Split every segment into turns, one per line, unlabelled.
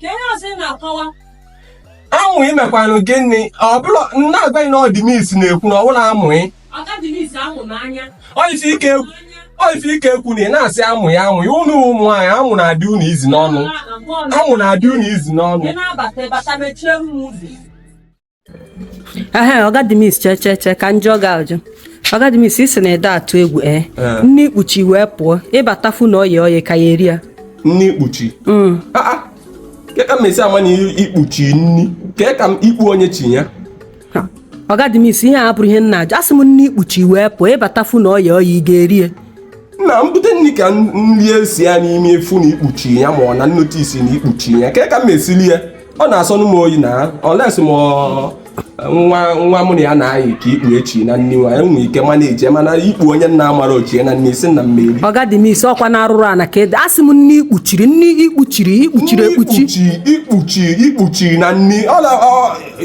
ka ihe ọzọ ị na-akọwa amụ imekwanụ gị nne ọ bụrụ na agwaghị na ọga Denis na-ekwu na ọ bụrụ amụghị ọga Denis ahụ n'anya ọ ife ike ekwu n'anya ọ ife ike ekwu na ị na-asị amụ ya amụ ya ụnụ ụmụ nwaanyị amụ na-adị unu easy n'ọnụ amụ na-adị unu easy n'ọnụ ị na-abata bata mechie m ụzọ ehe ọga Denis chee chee chee ka m jụọ gị ajụ ọga Denis ị sị na ede atụ egwu ee eh? eh. nni ikpuchi wee pụọ ị bata fụ na oye oye ka ya eri ya nni ikpuchi mm. ah, ah. ke ka m esi ama na ikpuchi nni ke ka m ikpu onye chi ya ọga Denis ihe a bụrụ ihe m na-ajụ asị m nni ikpuchi wee pụọ ị bata fụ na oye oye ị ga-eri ya na mbute nri ka nri esi ya n'ime efu na ikpuchi ya ma ọ na m notice na ikpuchi ya ke ka m esi li ya ọ na-asọnụ m oyi na olesi m nwa nwa mụ na ya na-ayị ka ikpu echi na nni nwa enwe ike manage mana ikpu onye m na-amarọ chie na nni ị sị na m eri ọga Denis ọkwa na arụrụ ana ka ede asị m nni ikpuchiri nni ikpuchiri ikpuchiri ekpuchi ikpuchi ikpuchi na nni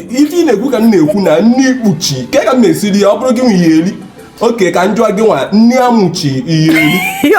ife ị na-ekwu ka m na-ekwu na nni ikpuchi ke ka m na-esi ri ya ọ bụrụ gị nwa ị ya-eri okay ka m jụọ gị nwa nni amụ chi ị ya-eri